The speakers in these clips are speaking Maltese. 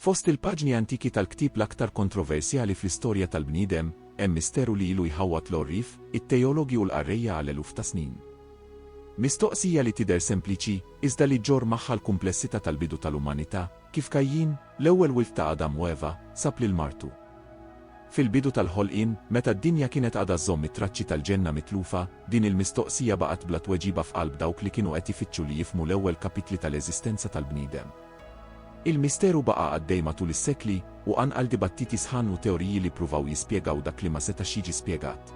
Fost il-paġni antiki tal-ktieb l-aktar kontroversjali fl-istorja tal-bniedem, hemm misteru li ilu jħawwad l-għorrief, it-teologi u l-qarrejja għal eluf ta' snin. Mistoqsija li tidher sempliċi, iżda li ġġorr magħha l-kumplessità tal-bidu tal-umanità, kif Kajjin, l-ewwel wild ta' Adam u Eva, sab lil martu? Fil-bidu tal-ħolqien, meta d-dinja kienet għadha żżomm it-traċċi tal-ġenna mitlufa, din il-mistoqsija baqgħet bla tweġiba f'qalb dawk li kienu qed ifittxu li jifhmu l-ewwel kapitli tal-eżistenza tal-bniedem. Il-misteru baqa' għaddej matul is-sekli, u qanqal dibattiti sħan u teoriji li ppruvaw jispjegaw dak li ma setax jiġi spjegat.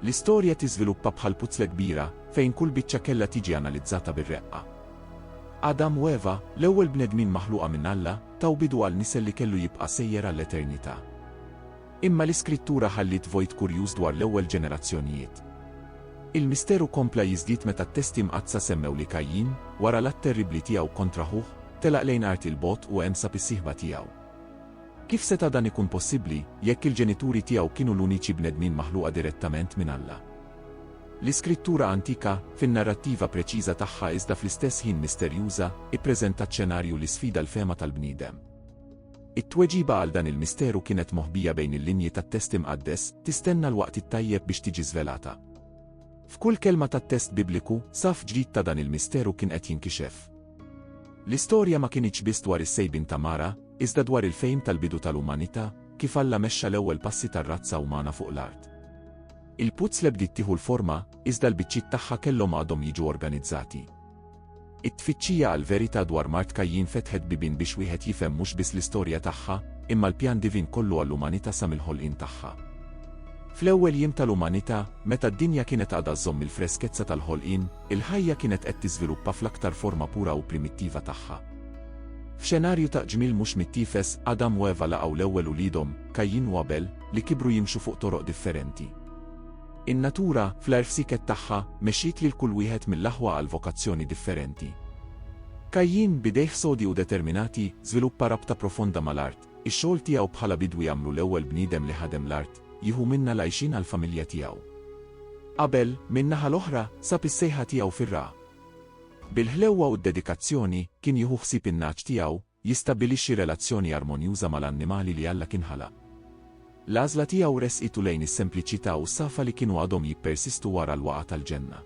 L-istorja tiżviluppa bħal puzzle kbira, fejn kull biċċa kellha tiġi analizzata bir-reqqa. Adam u Eva, l-ewwel bnedmin maħluqa minn Alla, taw bidu għal nisel li kellu jibqa' sejjer għall-eternità. Imma l-Iskrittura ħalliet vojt kurjuż dwar l-ewwel ġenerazzjonijiet. Il-misteru kompla jiżdied meta t-Testi Mqaddsa semmew li Kajjin, wara l-att terribbli tiegħu kontra ħuh, telaq lejn art 'il bogħod u hemm sab is-sieħba tiegħu. Kif seta' dan ikun possibbli, jekk il-ġenituri tiegħu kienu l-uniċi bnedmin maħluqa direttament minn Alla? L-iskrittura antika, fin-narrattiva preċiża tagħha iżda fl-istess ħin misterjuża, ippreżentat xenarju li sfida l-fehma tal-bniedem. It-tweġiba għal dan il-misteru kienet moħbija bejn il-linji tat-test imqaddes, tistenna l-waqt it-tajjeb biex tiġi żvelata. F'kull kelma tat-test Bibliku, saf ġdid ta' dan il-misteru kien qed jinkixef. L-istorja ma kinitx biss dwar is-sejbin ta' Mara, iżda dwar il-fejm tal-bidu tal-umanità, kif Alla mexxa l-ewwel passi tar-razza umana fuq l-art. Il-puzzle bdiet tieħu l-forma, iżda l-biċċiet tagħha kellhom għadhom jiġu organizzati. It-tfittxija għall-verità dwar mart Kajjin fetħet bibien biex wieħed jifhem mhux biss l-istorja tagħha, imma l-pjan divin kollu għall-umanità sa mill-ħolqien tagħha. Fl-ewwel jiem tal-umanità, meta d-dinja kienet għadha żżomm il-freskezza tal-ħolqien, il-ħajja kienet qed tiżviluppa fl-aktar forma pura u primittiva tagħha. F'xenarju ta' qġmiel mhux mittiefes, Adam u Eva laqgħu l-ewwel uliedhom, Kajjin u Abel, li kibru jimxu fuq toroq differenti. In-natura, fl-għerfsiket tagħha, mexxiet lil kull wieħed mill-aħwa għal vokazzjoni differenti. Kajjin, b'idejh sodi u determinati, żviluppa rabta profonda mal-art, ix-xogħol tiegħu bħala bidwi għamlu l-ewwel bniedem li ħadem l-art, jieħu minnha l-għajxien għall-familja tiegħu. Abel, min-naħa l-oħra, sab is-sejħa tiegħu fir-ragħa. Bil-ħlewwa u d-dedikazzjoni, kien jieħu ħsieb in-nagħaġ tiegħu, Jistabbilixxi relazzjoni armonjuża mal-annimali li Alla kien ħalaq. L-għażla tiegħu ressqitu lejn is-sempliċità u s-safa li kienu għadhom jippersistu wara l-waqgħa tal-ġenna.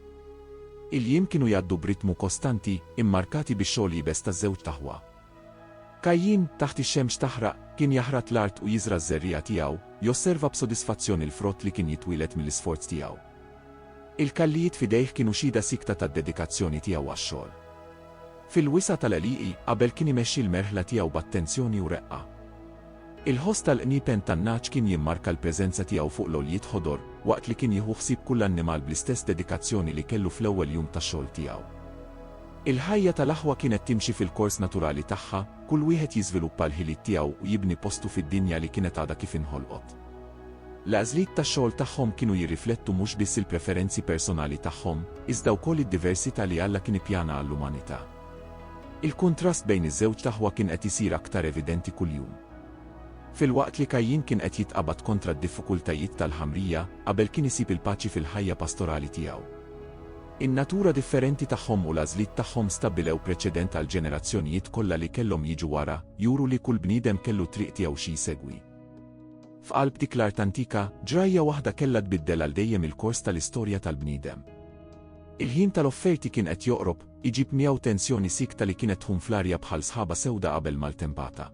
Il-jiem kienu jgħaddu b'ritmu kostanti, immarkati bix-xogħol iebes taż-żewġ taħwa. Kajjin, taħt ix-xemx taħraq, kien jaħrat l-art u jiżra' ż-żerriegħa tiegħu, josserva b'sodisfazzjon il-frott li kien jitwieled mill-isforz tiegħu. Il-kallijiet f'idejh kienu xhieda siekta tad-dedikazzjoni tiegħu għax-xogħol. Fil-wisa' tal-għelieqi, qabel kien imexxi l-merħla tiegħu b'attenzjoni u reqqa. Il-ħoss tal-qniepen tan-nagħaġ kien jimmarka l-preżenza tiegħu fuq l-għoljiet ħodor, waqt li kien jieħu ħsieb kull annimal bl-istess dedikazzjoni li kellu fl-ewwel jum ta' xogħol tiegħu. Il-ħajja tal-aħwa kienet timxi fil-kors naturali tagħha, kull wieħed jiżviluppa l-ħiliet tiegħu u jibni postu fid-dinja li kienet għadha kif inħolqot. L-għażliet ta' xogħol tagħhom kienu jirriflettu mhux biss il-preferenzi personali tagħhom, iżda wkoll id-diversità li Alla kien ippjana għall-umanità. Il-kuntrast bejn iż-żewġt aħwa kien qed isir aktar evidenti kuljum. Filwaqt li Kajjin kien qed jitqabad kontra d-diffikultajiet tal-ħamrija, Abel kien isib il-paċi fil-ħajja pastorali tiegħu. In-natura differenti tagħhom u l-għażliet tagħhom stabbilew preċedent għall-ġenerazzjonijiet kollha li kellhom jiġu wara, juru li kull bniedem kellu t-triq tiegħu xi jsegwi. F'qalb dik l-art antika, ġrajja waħda kellha tbiddel għal dejjem il-kors tal-istorja tal-bniedem. Il-ħin tal-offerti kien qed joqrob, iġib miegħu tensjoni siekta li kienet tħum fl-arja bħal sħaba sewda qabel maltempata.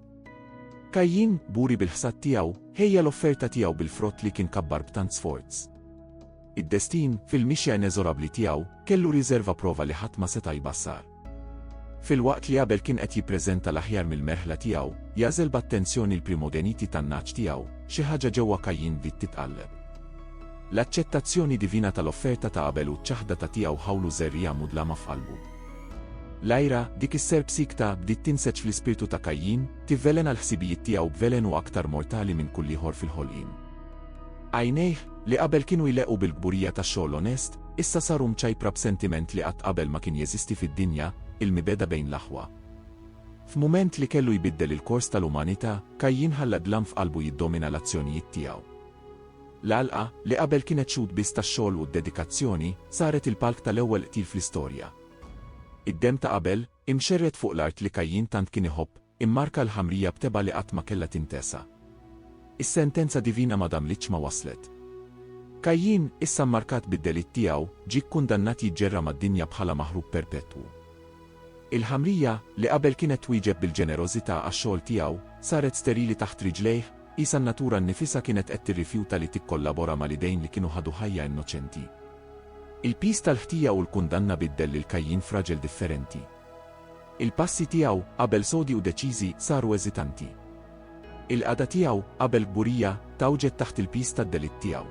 Kajjin, buri bil-ħsad tiegħu, ħejja l-offerta tiegħu bil-frott li kien kabbar b'tant sforz. Id-destin, fil-mixja ineżorabbli tiegħu, kellu riżerva prova li ħadd ma seta' jbassar. Filwaqt li Abel kien qed jippreżenta l-aħjar mill-merħla tiegħu, jagħżel b'attenzjoni l-primogeniti tan-nagħaġ tiegħu, xi ħaġa ġewwa Kajjin bdiet titqalleb. L-aċċettazzjoni divina tal-offerta ta' Abel u ċ-ċaħdata tiegħu ħawlu żerriegħa mudlama f'qalbu. L-għira, dik is-serp siekta, bdiet tinseġ fl-ispirtu ta' Kajjin, tivvelena l-ħsibijiet tiegħu b'velenu aktar mortali minn kulliħor fil-ħolqien. Għajnejh, li qabel kienu jleqqu bil-kburija tax-xogħol onest, Issa saru mċajpra b'sentiment li qatt qabel ma kien jeżisti fid-dinja, il-mibegħda bejn l-aħwa. F'mument li kellu jbiddel il-kors tal-umanità, Kajjin ħalla d-dlam f'qalbu jiddomina l-azzjonijiet tiegħu. L-għalqa, li qabel kienet xhud biss tax-xogħol u d-dedikazzjoni, saret il-palk tal-ewwel qtil fl-istorja. Id-demm ta' Abel, Imxerred fuq l-art li Kajjin tant kien iħobb, immarka l-ħamrija b'tebgħa li qatt ma kellha tintesa. Is-sentenza divina ma damlitx ma waslet. Kajjin, issa mmarkat bid-delitt tiegħu, ġie kkundannat jiġġerra mad-dinja bħala maħrub perpetwu. Il-ħamrija, li qabel kienet twieġeb bil-ġenerożità għax-xogħol tiegħu, saret sterili taħt riġlejh, qisha n-natura nnifisha kienet qed tirrifjuta li tikkollabora mal-idejn li kienu ħadu ħajja innoċenti. Il-piż tal-ħtija u l-kundanna biddel lil Kajjin f'raġel differenti. Il-passi tiegħu, qabel sodi u deċiżi, saru eżitanti. Il-qagħda tiegħu, qabel kburija, tgħawġet taħt il-piż tad-delitt tiegħu.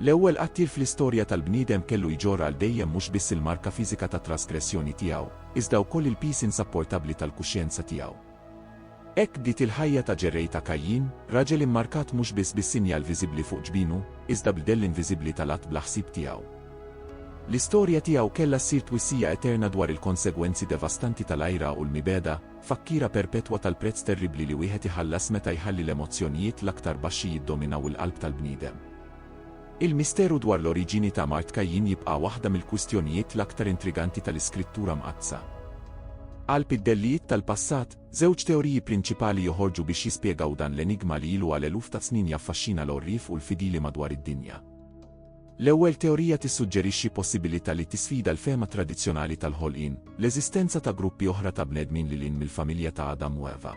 L-ewwel qattiel fl-istorja tal-bniedem kellu jġorr għal dejjem mhux biss il-marka fiżika tat-trasgressjoni tiegħu, iżda wkoll il-piż insapportabbli tal-kuxjenza tiegħu. Hekk bdiet il-ħajja ta' ġerrej ta' Kajjin, raġel immarkat mhux biss bis-sinjal viżibbli fuq ġbinu, iżda bl-dell inviżibbli tal-att bla ħsieb tiegħu. L-istorja tiegħu kellha ssir twissija eterna dwar il-konsegwenzi devastanti tal-għira u l-mibegħda, tfakkira perpetwa tal-prezz terribbli li wieħed iħallas meta jħalli l-emozzjonijiet l-aktar baxxi jiddominaw il-qalb tal-bniedem. Il-misteru dwar l-oriġini ta' mard Kajjin jibqa' waħda mill-kwistjonijiet l-aktar intriganti tal-Iskrittura Mqaddsa. Qalb id-dellijiet tal-passat, żewġ teoriji prinċipali joħorġu biex jispjegaw dan l-enigma li ilu għal eluf ta' snin jaffaxxina l-għorrief u l-fidili madwar id-dinja. L-ewwel teorija tissuġġerixxi possibilità li tisfida l-fehma tradizzjonali tal-ħolqien, l-eżistenza ta' gruppi oħra ta' bnedmin lil hinn mill-familja ta' Adam u Eva.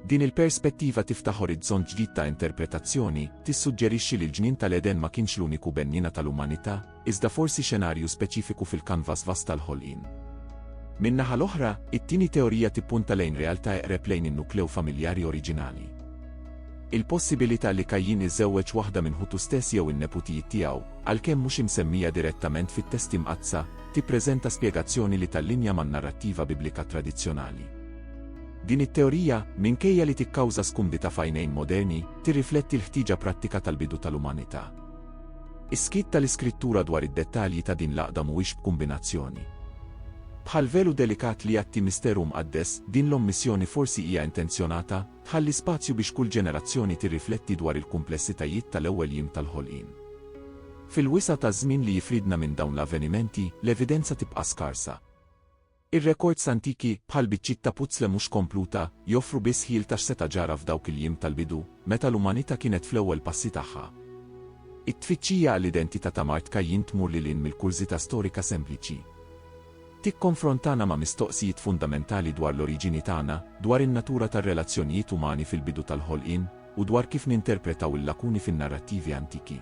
Din il-perspettiva tiftaħ orizzont ġdid ta' interpretazzjoni, tissuġġerixxi li l-ġnien tal-Eden ma kienx l-uniku benniena tal-umanità, iżda forsi xenarju speċifiku fil-kanvas vast tal-ħolqien. Min-naħa l-oħra, it-tieni teorija tippunta lejn realtà eqreb lejn in-nukleu familjari oriġinali. Il-possibilità li Kajjin iżżewweġ waħda minn ħutu stess jew in-neputijiet tiegħu, għalkemm mhux imsemmija direttament fit-Testi Mqaddsa, tippreżenta spjegazzjoni li tallinja man-narrattiva Biblika tradizzjonali. Din it-teorija, minkejja li tikkawża skumbita f'għajnejn moderni, tirrifletti l-ħtieġa prattika tal-bidu tal-umanità. Is-skiet tal-Iskrittura dwar id-dettalji ta' din l-għaqda mhuwiex b'kumbinazzjoni. Bħal velu delikat li jgħatti misteru mqaddes, din l-ommissjoni forsi hija intenzjonata, tħalli spazju biex kull ġenerazzjoni tirrifletti dwar il-kumplessitajiet tal-ewwel jiem tal-ħolqien. Fil-wisa' taż-żmien li jifridna minn dawn l-avvenimenti, l-evidenza tibqa' skarsa. Ir-rekords antiki, bħal biċċiet ta' puzzle mhux kompluta, joffru biss ħjiel ta' x'seta' ġara f'dawk il-jiem tal-bidu, meta l-umanità kienet fl-ewwel passi tagħha. It-tfittxija għall-identità ta' Mart Kajjin tmur lil hinn mill-kurżità storika sempliċi. Tikkonfrontana ma' mistoqsijiet fundamentali dwar l-oriġini tagħna, dwar in-natura tar-relazzjonijiet umani fil-bidu tal-ħolqien, u dwar kif ninterpretaw il-lakuni fin-narrattivi antiki.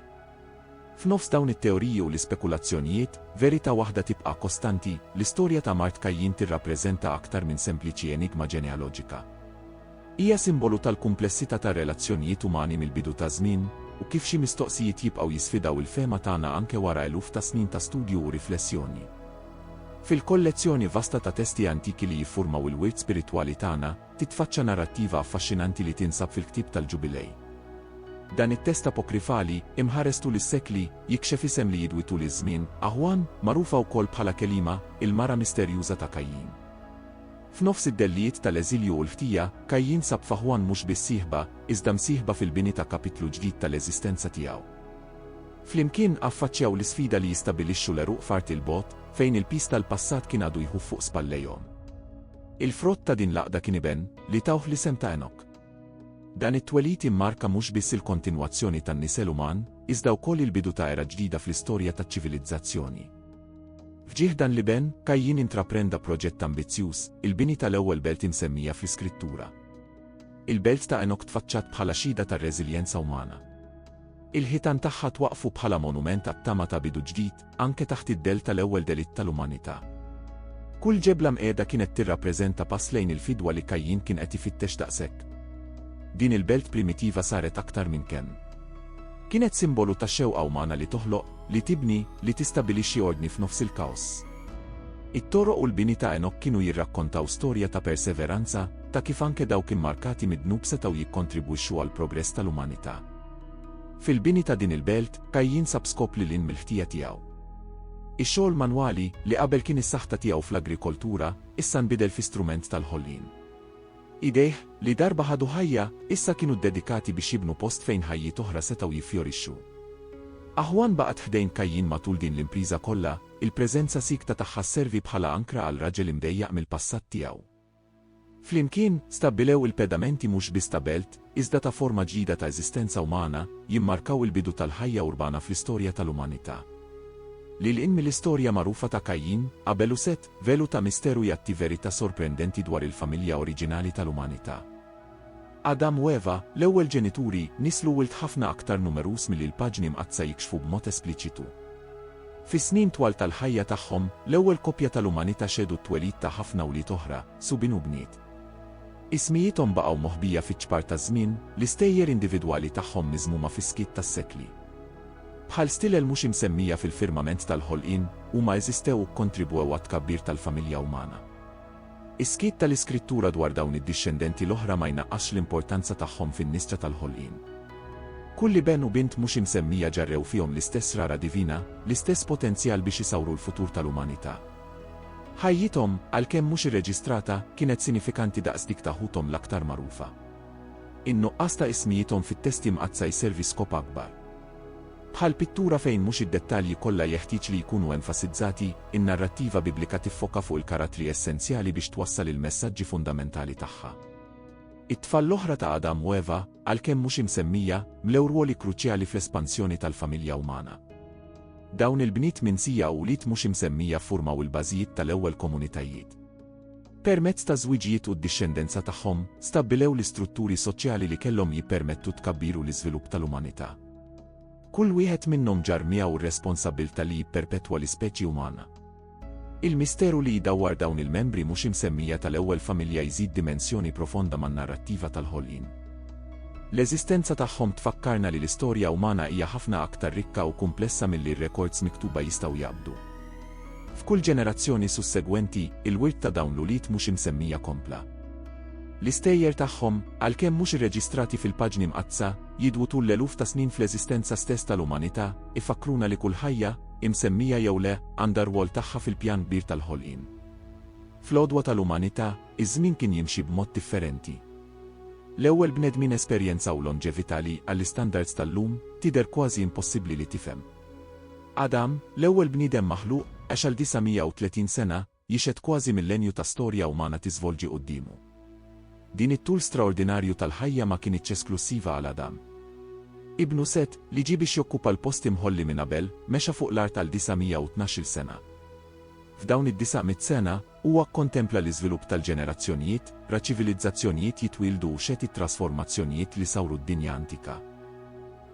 F'nofs dawn it-teoriji u l-ispekulazzjonijiet, verità waħda tibqa' kostanti, l-istorja ta' mart Kajjin tirrappreżenta aktar minn sempliċi enigma ġenealoġika. Hija simbolu tal-kumplessità tar-relazzjonijiet umani mill-bidu taż-żmien, u kif xi mistoqsijiet jibqgħu jisfidaw il-fehma tagħna anke wara eluf ta' snin ta' studju u riflessjoni. Fil-kollezzjoni vasta ta' testi antiki li jiffurmaw il-wirt spiritwali tagħna, Titfaċċa narrattiva affaxxinanti li tinsab fil-ktieb tal-Ġubilej. Dan it-test apokrifali, imħares tul is-sekli, jikxef isem li jidwi tul iż-żmien, Aħwan, magħrufa wkoll bħala Kelima, il-mara misterjuża ta' Kajjin. F'nofs id-dellijiet tal-eżilju u l-ħtija, Kajjin sab f'Aħwan mhux biss sieħba, iżda msieħba fil-bini ta' kapitlu ġdid tal-eżistenza tiegħu. Flimkien, affaċċjaw l-isfida li jistabilixxu l-għeruq f'art 'il bogħod, fejn il-piż tal-passat kien għadu jħuf fuq spallejhom. Il-frott ta' din l-għaqda kien iben li tawh l-isem ta' Enok. Dan it-twelid immarka mhux biss il-kontinwazzjoni tan-nisel uman, iżda wkoll il-bidu ta' era ġdida fl-istorja taċ-ċivilizzazzjoni. F'ġieħ dan l-iben, Kajjin intraprenda proġett ambizzjuż, il-bini tal-ewwel belt imsemmija fl-Iskrittura. Il-belt ta' Enok tfaċċat bħala xhieda tar-reżiljenza umana. Il-ħitan tagħha twaqqfu bħala monument għat-tama ta' bidu ġdid, anke taħt id-dell tal-ewwel delitt tal-umanità. Kull ġebla mqiegħda kienet tirrappreżenta pass lejn il-fidwa li Kajjin kien qed ifittex daqshekk. Din il-belt primitiva saret aktar minn kemm. Kienet simbolu ta' xewqa umana li toħloq, li tibni, li tistabilixxi ordni f'nofs il-kaos. It-toroq u l-bini ta' Enok kienu jirrakkontaw storja ta' perseveranza, ta' kif anke dawk immarkati mid-dnub setgħu jikkontribwixxu għall-progress tal-umanità. Fil-bini ta' din il-belt, Kajjin sab skop lil hinn mill-ħtija tiegħu. Ix-xogħol manwali, li qabel kien is-saħta tiegħu fl-agrikoltura, issa nbidel fi strument tal-ħolqien. Idejh, li darba ħadu ħajja, issa kienu ddedikati biex jibnu post fejn ħajjiet oħra setgħu jiffjorixxu. Aħwan baqgħet ħdejn Kajjin matul din l-impriża kollha, il-preżenza siekta tagħha sservi bħala ankra għal raġel imdejjaq mill-passat tiegħu. Flimkien, stabbilew il-pedamenti mhux biss ta' belt, iżda ta' forma ġdida ta' eżistenza umana, jimmarkaw il-bidu tal-ħajja urbana fl-istorja tal-umanità. Lil hinn mill-istorja magħrufa ta' Kajjin, Abel u Set, velu ta' misteru jgħatti verità sorprendenti dwar il-familja oriġinali tal-umanità. Adam u Eva, l-ewwel ġenituri, nisslu wild ħafna aktar numeruż milli l-paġni mqaddsa jikxfu b'mod espliċitu. Fis-snin twal tal-ħajja tagħhom, l-ewwel koppja tal-umanità xehdu t-twelid ta' ħafna wlied oħra, subien u bniet. Ismijiethom baqgħu moħbija fiċ-ċpar taż-żmien, l-istejjer individwali tagħhom miżmuma fis-skiet tas-sekli. Bħal stilel mhux imsemmija fil-firmament tal-ħolqien, huma eżistew u kkontribwew għat-tkabbir tal-familja umana. Is-skiet tal-Iskrittura dwar dawn id-dixxendenti l-oħra ma jnaqqasx l-importanza tagħhom fin-nisġa tal-ħolqien. Kull iben u bint mhux imsemmija ġarrew fihom l-istess rara divina, l-istess potenzjal biex isawru l-futur tal-umanità. Ħajjithom, għalkemm mhux irreġistrata, kienet sinifikanti daqs dik ta' ħuthom l-aktar magħrufa. In-nuqqas ta' ismijiethom fit-Testi Mqaddsa jservi skop akbar. Bħal pittura fejn mhux id-dettalji kollha jeħtieġ li jkunu enfasizzati, in-narrattiva Biblika tiffoka fuq il-karattri essenzjali biex twassal il-messaġġi fundamentali tagħha. It-tfal l-oħra ta' Adam u Eva, għalkemm mhux imsemmija, mlew rwoli kruċjali fl-espansjoni tal-familja umana. Dawn il-bniet minsija u wlied mhux imsemmija ffurmaw il-bażijiet tal-ewwel komunitajiet. Permezz ta' żwiġijiet u d-dixxendenza tagħhom, stabbilew l-istrutturi soċjali li kellhom jippermettu t-tkabbir u l-iżvilupp tal-umanità. Kull wieħed minnhom ġarr miegħu r-responsabbiltà li jipperpetwa l-ispeċi umana. Il-misteru li jdawwar dawn il-membri mhux imsemmija tal-ewwel familja jżid dimensjoni profonda man-narrattiva tal-ħolqien. L-eżistenza tagħhom tfakkarna li l-istorja umana hija ħafna aktar rikka u kumplessa milli r-rekords miktuba jistgħu jaqbdu. F'kull ġenerazzjoni sussegwenti, il-wirt ta' dawn l-ulied mhux imsemmija kompla. L-istejjer tagħhom, għalkemm mhux irreġistrati fil-paġni mqaddsa, jidwu tul l-eluf ta' snin fl-eżistenza stess tal-umanità, ifakkruna li kull ħajja, imsemmija jew le, għandha r-rwol tagħha fil-pjan kbir tal-ħolqien. Fl-għodwa tal-umanità, iż-żmien kien jimxi b'mod differenti. L-ewwel bnedmin esperjenzaw lonġevità li, għall-istandards tal-lum, tidher kważi impossibbli li tifhem. Adam, l-ewwel bniedem maħluq, għex għal 930 sena, jixhed kważi millenju ta' storja umana tiżvolġi quddiemu. Din it-tul straordinarju tal-ħajja ma kinitx esklussiva għal Adam. Ibnu Set, li ġie biex jokkupa l-post imħolli minn Abel, mexa fuq l-art għal 912-il sena. F'dawn id-disaq mitt sena, Huwa kkontempla l-iżvilupp tal-ġenerazzjonijiet, ra ċivilizzazzjonijiet jitwieldu u xehd it-trasformazzjonijiet li sawru d-dinja antika.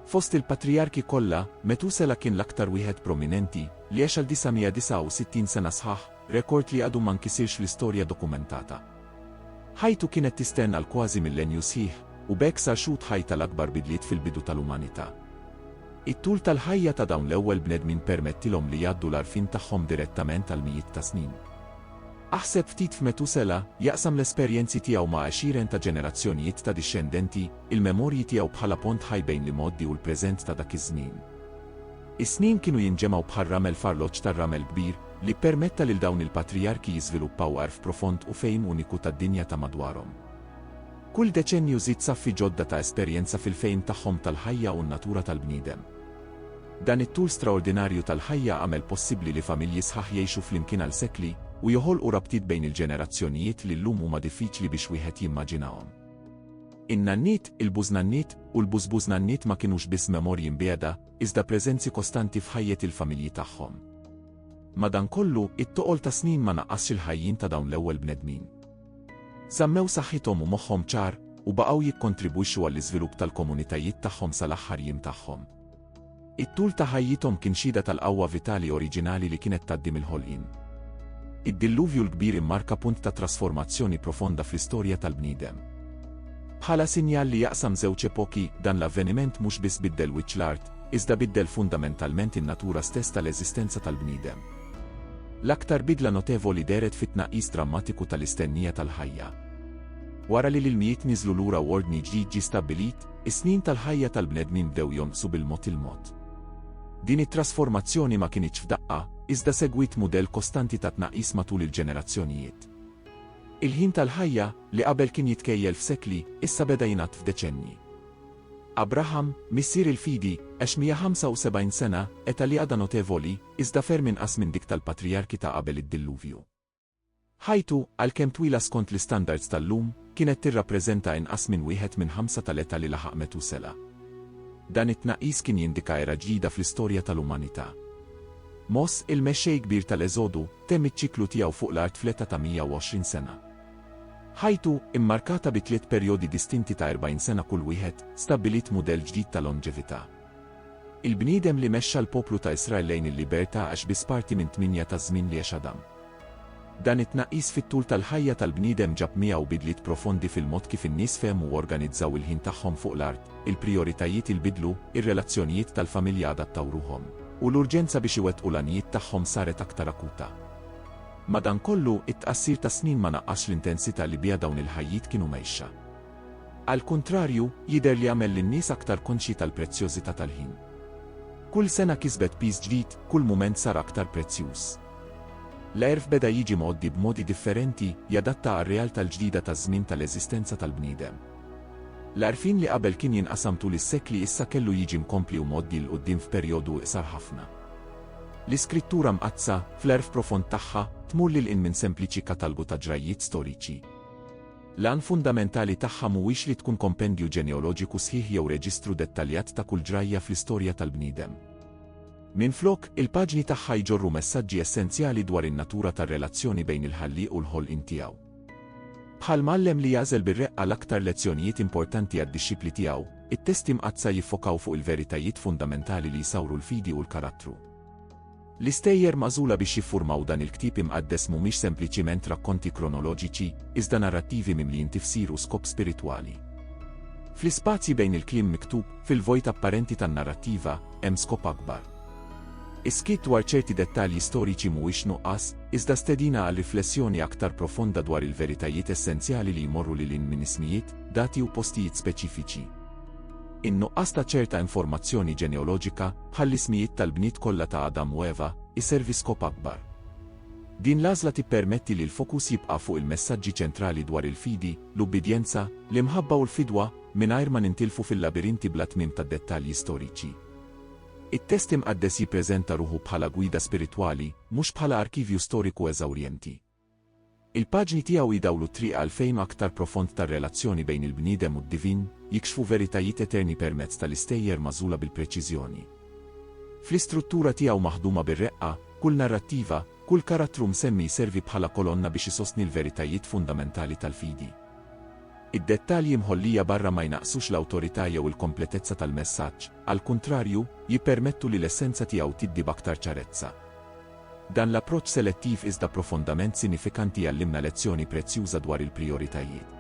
Fost il-patrijarki kollha, Metusela kien l-aktar wieħed prominenti, li għex għal 969 sena sħaħ, rekord li għadu ma nkisirx fl-istorja dokumentata. Ħajtu kienet tistenn għal kważi millenju sħiħ, u b'hekk sar xhud ħaj tal-akbar bidliet fil-bidu tal-umanità. It-tul tal-ħajja ta' dawn l-ewwel bnedmin permettilhom li jgħaddu l-għarfien tagħhom direttament għal mijiet ta' snin. Aħseb ftit f'Metusela, jaqsam l-esperjenzi tiegħu ma' għexieren ta' ġenerazzjonijiet ta' dixxendenti, il-memorji tiegħu bħala pont ħaj bejn l-imgħoddi u l-preżent ta' dak iż-żmien. Is-snin kienu jinġemgħu bħal ramel f'arloġġ tar-ramel kbir, li ppermetta lil dawn il-patrijarki jiżviluppaw għarf profond u fehim uniku tad-dinja ta' madwarhom. Kull deċennju żid saffi ġodda ta' esperjenza fil-fehim tagħhom tal-ħajja u n-natura tal-bniedem. Dan it-tul straordinarju tal-ħajja għamel possibbli li familji sħaħ jgħixu flimkien għal sekli u joħolqu rabtiet bejn il-ġenerazzjonijiet li llum huma diffiċli biex wieħed jimmaġinahom. In-nanniet, il-bużnanniet, u l-bużbużnanniet ma kinux biss memorji mbiegħda, iżda preżenzi kostanti f'ħajjet il-familji tagħhom. Madankollu, it-toqol tas-snin ma naqqasx il-ħajjin ta' dawn l-ewwel bnedmin. Żammew saħħithom u moħħhom ċar, u baqgħu jikkontribwixxu għall-iżvilupp tal-komunitajiet tagħhom sal-aħħar jiem tagħhom. It-tul ta' ħajjithom kien xhieda tal-qawwa vitali oriġinali li kienet tgħaddi mill-ħolqien. Id-Dilluvju l-Kbir immarka punt ta' trasformazzjoni profonda fl-istorja tal-bniedem. Bħala sinjal li jaqsam żewġ epoki, dan l-avveniment mhux biss biddel wiċċ l-art, iżda biddel fundamentalment in-natura stess tal-eżistenza tal-bniedem. L-aktar bidla notevoli dehret fit-tnaqqis drammatiku tal-istennija tal-ħajja. Wara li l-ilmijiet niżlu lura u ordni ġdid ġie stabbilit, is-snin tal-ħajja tal-bnedmin bdew jonqsu bil-mod il-mod. Din it-trasformazzjoni ma kinitx f'daqqa, iżda segwiet mudell kostanti ta' tnaqqis matul il-ġenerazzjonijiet. Il-ħin tal-ħajja, li qabel kien jitkejjel f'sekli, issa beda jingħadd f'deċennji. Abraham, missier il-fidi, għex 175 sena, età li għadha notevoli, iżda ferm inqas minn dik tal-patrijarki ta' qabel id-Dilluvju. Ħajtu, għalkemm twila skont l-istandards tal-lum, kienet tirrappreżenta inqas minn wieħed minn ħamsa tal-età li laħaq Metusela. Dan it-tnaqqis kien jindika era ġdida fl-istorja tal-umanità. Moss, il-mexxej kbir tal-Eżodu, temm iċ-ċiklu tiegħu fuq l-art fl-età ta' 120 sena. Ħajtu, immarkata bi tliet perjodi distinti ta' 40 sena kull wieħed, stabbiliet mudell ġdid ta' lonġevità. Il-bniedem li mexxa l-poplu ta' Israel lejn il-libertà għax biss parti minn tmienja taż-żmien li għex Adam. Dan it-tnaqqis fit-tul tal-ħajja tal-bniedem ġab miegħu bidliet profondi fil-mod kif in-nies fehmu u organizzaw il-ħin tagħhom fuq l-art, il-prijoritajiet inbidlu, ir-relazzjonijiet tal-familja adattaw ruħhom, u l-urġenza biex iwettqu l-għanijiet tagħhom saret aktar akuta. Madankollu, it-tqassir tas-snin ma naqqasx l-intensità li biha dawn il-ħajjiet kienu mgħixxa. Għall-kuntrarju, jidher li għamel lin-nies aktar konxji tal-prezzjożità tal-ħin. Kull sena kisbet piż ġdid, kull mument sar aktar prezzjuż. L-għerf beda jiġi mgħoddi b'modi differenti, jadatta għar-realtà l-ġdida taż-żmien tal-eżistenza tal-bniedem. L-għarfien li qabel kien jinqasam tul is-sekli issa kellu jiġi mkompli u mgħoddi 'l quddiem f'perjodu iqsar ħafna. L-Iskrittura Mqaddsa, fl-għerf profond tagħha, tmur lil hinn minn sempliċi katalgu ta' ġrajjiet storiċi. L-għan fundamentali tagħha mhuwiex li tkun kompendju ġeneoloġiku sħiħ jew reġistru dettaljat ta' kull ġrajja fl-istorja tal-bniedem. Minflok, il-paġni tagħha jġorru messaġġi essenzjali dwar in-natura tar-relazzjoni bejn il-Ħallieq u l-ħolqien tiegħu. Bħal mgħallem li jagħżel bir-reqqa l-aktar lezzjonijiet importanti għad-dixxipli tiegħu, it-Testi Mqaddsa jiffokaw fuq il-veritajiet fundamentali li jsawru l-fidi u l-karattru. L-istejjer magħżula biex jiffurmaw dan il-ktieb imqaddes mhumiex sempliċiment rakkonti kronoloġiċi, iżda narrattivi mimlijin tifsir u skop spiritwali. Fl-ispazji bejn il-kliem miktub, fil-vojt apparenti tan-narrattiva, hemm skop akbar. Is-skiet dwar ċerti dettalji storiċi mhuwiex nuqqas, iżda stedina għal riflessjoni aktar profonda dwar il-veritajiet essenzjali li jmorru lil hinn minn ismijiet, dati u postijiet speċifiċi. In-nuqqas ta' ċerta informazzjoni ġeneoloġika, Bħall-ismijiet tal-bniet kollha ta' Adam u Eva, iservi skop akbar. Din l-għażla tippermetti li l-fokus jibqa' fuq il-messaġġi ċentrali dwar il-fidi, l-ubbidjenza, l-imħabba u l-fidwa, mingħajr ma nintilfu fil-labirinti bla tmiem tad-dettalji storiċi. It-Test Imqaddes jippreżenta ruħu bħala gwida spiritwali, mhux bħala arkivju storiku eżawrjenti. Il-paġni tiegħu jdawlu t-triq għal fehim aktar profond tar-relazzjoni bejn il-bniedem u d-divin, jikxfu veritajiet eterni permezz tal-istejjer magħżula bil-preċiżjoni. Fl-istruttura tiegħu maħduma bir-reqqa, kull narrattiva, kull karattru msemmi jservi bħala kolonna biex isostni l-veritajiet fundamentali tal-fidi. Id-dettalji mħollija barra ma jnaqqsux l-awtorità jew il-kompletezza tal-messaġġ, għall-kuntrarju, jippermettu li l-essenza tiegħu tiddi b'aktar ċarezza. Dan l-approċċ selettiv iżda profondament sinifikanti jgħallimna lezzjoni prezzjuża dwar il-prijoritajiet.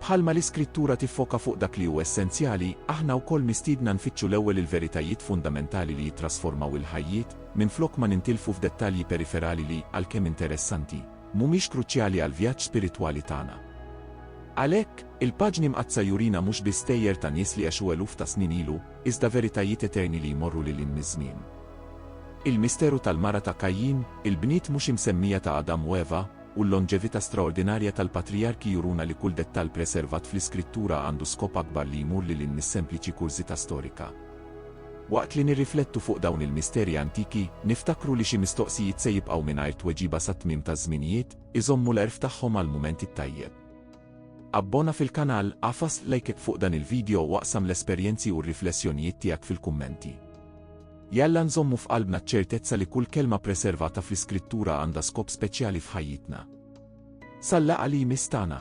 Bħalma l-Iskrittura tiffoka fuq dak li hu essenzjali, aħna wkoll mistiedna nfittxu l-ewwel il-veritajiet fundamentali li jittrasformaw il-ħajjiet, minflok ma nintilfu f'dettalji periferali li, għalkemm interessanti, mhumiex kruċjali għall-vjaġġ spiritwali tagħna. Għalhekk, il-paġni Mqaddsa jurina mhux biss stejjer ta' nies li għexu eluf ta' snin ilu, iżda veritajiet eterni li jmorru lil hinn miż-żmien. Il-misteru tal-mara ta' Kajjin, il-bniet mhux imsemmija ta' Adam u Eva, u l-lonġevità straordinarja tal-patrijarki juruna li kull dettall preservat fl-Iskrittura għandu skop akbar li jmur lil hinn mis-sempliċi kurżità storika. Waqt li nirriflettu fuq dawn il-misteri antiki, niftakru li xi mistoqsijiet se jibqgħu mingħajr tweġiba sat-tmiem taż-żminijiet, iżommu l-għerf tagħhom għall-mument it-tajjeb. Abbona fil-kanal, agħfas like fuq dan il-video u aqsam l-esperjenzi u r-riflessjonijiet tiegħek fil-kummenti. Jalla nżommu f'qalbna ċ-ċertezza li kull kelma preservata fl-Iskrittura għandha skop speċjali f'ħajjitna. Sal-laqgħa li jmiss tagħna!